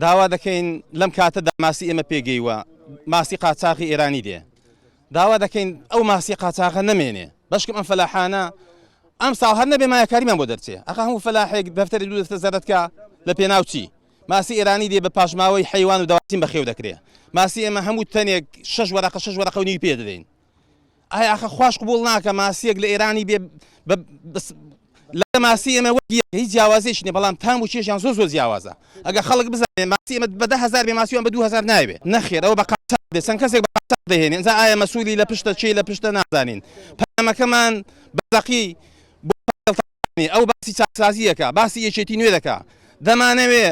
داوا دەکەین لەم کاتەدا ماسی ئێمە پێگەیوە ماسی قاچاقی ئێرانی دێ داوا دەکەین ئەو ماسی قاچاقە نەمێنێ بەشکم ئەم فەلاحانە ئەم ساڵ هەر نەبێ مایەکاریمان بۆ دەرچێ ئەخ هەموو فەلاحێک دەفتەری دوو دەفتە زەرەتکە لە پێناو چی ماسی ئێرانی دێ بە پاشماوەی حیوان و داواتیم بەخێو دەکرێ ماسی ئێمە هەموو تەنێک شش وەرەقە شش وەرەقە و نیوی پێ دەدەین ئایا ئاخە خواش قبول ناکە ماسیەک لە ئێرانی بێ لە ماسی ئێمە وەگی هیچ جیاوازیش نیە بەڵام تام و چێژیان زۆر زۆر جیاوازە ئەگە خەڵک بزانێ ماسی ئمە بە ده هزار بێ ماسیوان بە دو هزار ناوێ نەخێرەوە بە قاچاق دێ چەند کەسێک بە قاچاق دەهێنێ ئەنجا ئایا مەسوولی لە پشتە چی لە پشتە نازانین پەیامەکەمان بەدەقی بۆ ئەو باسی چاکسازیەکە باسی یەکێتی نوێ دەکا دەمانەوێ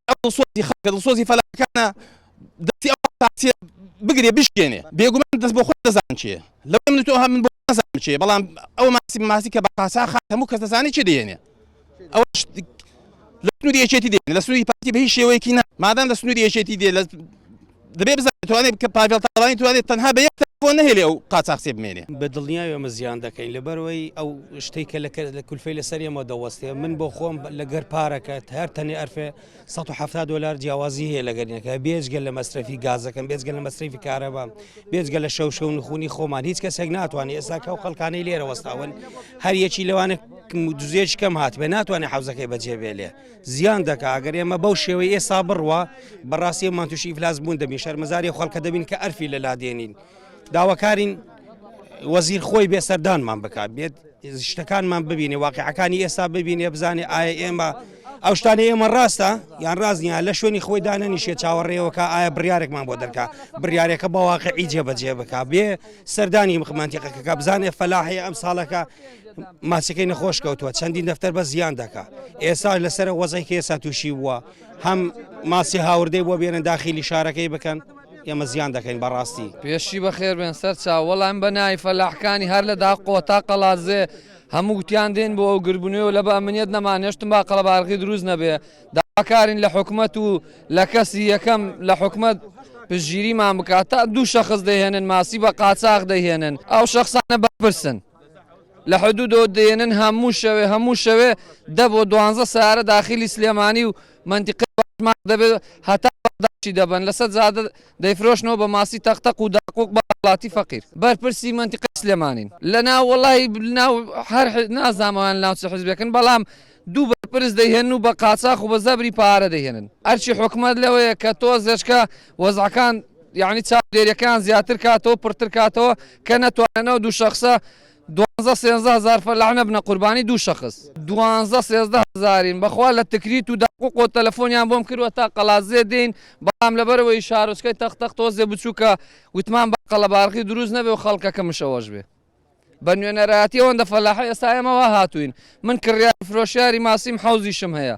ئەو دڵسۆزی خەڵکە دڵسۆزی فەلاحەکانە دەستی ئەو پارتیە بگرێ بشکێنێ بێگومان دەست بۆ خۆت دەزان چێ لەو من تۆ هەمن بۆ نازان چێ بەڵام ئەو ماسی ماسی کە بە قاسا خات هەموو کەس دەزانی چێ دێنێ ئەو لە سنووری یەکێتی دێ لە سنووری پارتی بە هیچ شێوەیەکی نا مادام لە سنووری یەکێتی دێ لە دەبێ بزانێت توانێت کە پاڤێڵ تاڵانی توانێت تەنها بە یەک تەلفۆن نەهێلێ ئەو قاچاخچێ بمێنێ بە دڵنیای ئەمە زیان دەکەین لەبەرەوەی ئەو شتەی کە لەکە لە کولفەی لەسەر ئێمە دەوەستێ من بۆ خۆم لەگەر پارەکە هەر تەنێ ئەرفێ 1970 دلار جیاوازی هەیە لەگەرینەکە بێجگە لە مەسرەفی گازەکەم بێجگە لە مەسرەفی کارەبام بێجگە لە شەو شەو نخونی خۆمان هیچ کەسێک ناتوانێت ئێساکە و خەڵکانەی لێرە وەستاون هەر یەکی لەوانە دزێش کەم هاتبێ ناتوانێت حوزەکەی بەجێبێلێ زیان دەکا ئەگەر ئێمە بەو شێوەی ئێسا بڕوا بەڕاستی ئەمان تووشی ئیفلاس بوون دەبین شەرمەزاری خەڵکە دەبین کە ئەرفی لە لادێنین داواکارین وەزیر خۆی بێ سەردانمان بکات بێت شتەکانمان ببینێ واقعەکانی ئێستا ببینێ بزانێ ئایا ئێمە ئەو شتانە ئێمە ڕاستە یان ڕاستنیە لە شوێنی خۆی دانەنیشێ چاوەڕێەوەکە ئایا بڕارێکمان بۆ دەرکە بڕارێکە بەواقعی جێبەجێ بک بێ سەردانی مەنتیقەکەکە بزانێ فەلاحی ئەم ساڵەکە ماسیەکەی نەخۆش کەوتووە چەندین دەفتەر بە زیان دەکا ئێستا لەسەر وەزێکی ئێستا تووشی بووە هەم ماسی هاوردەی بۆ بێنە داخلی شارەکەی بکەن ئێمە زیان دەکەین بەڕاستی پێشی بەخێر بێن سەر چاوەڵام بە نای فەلاحکانی هەر لە دا قۆتا قەڵازێ هەموو گوتیان دێن بۆ ئەو گربنەوە لە بە ئەمنیت نەمانێشتم با قەڵەبارغی دروست نەبێ داواکارین لە حکومەت و لە کەسی یەکەم لە حکومەت پشتگیریمان بکات تا دوو شەخص دەیهێنن ماسی بە قاچاخ دەیهێنن ئەو شەخسانە بەرپرسن لە حدودەوە دێنن هەموو شەوێ هەموو شەوێ دە بۆ دوانزە سارە داخلی سلێمانی و منتیقی باشمان دەبێت هەتا بەغداشی دەبن لەسەر جادە دەیفرۆشنەوە بە ماسی تەقتەق و داقوق بە هاوڵاتی فەقیر بەرپرسی منتیقی سلێمانین لەناو وەڵاهی لەناو هەر نازانم ئەوان لەناو چ حزبێکن بەڵام دوو بەرپرس دەیهێنن و بە قاچاخ و بە زەبری پارە دەیهێنن. ئەرکی حکومەت لەوەیە کە تۆزێچکە وەزعەکان یانی چاودێریەکەیان زیاتر کاتەوە پرتر کاتەوە کە نەتوانن ئەو دوو شەخسە دوانزە سێنزە هەزار فەلاح نەبنە قوربانی دوو شەخس. دوانزە سێزدە هەزارین بەخوا لە تکریت و داقوقۆ تەلەفۆنیان بۆم کردوە تا قەڵادزێ دێین بەڵام لەبەرئەوەی شارۆچکەی تەق تەق تۆزێ بچوکە وتمان با قەڵەبارغی دروست نەبێ و خەڵکەکە مشەوەش بێ. بە نوێنەرایەتی ئەوەندە فەلاحی ئێستا ئێمە وا هاتووین من کڕیاری فرۆشیاری ماسیم حەوزیشم هەیە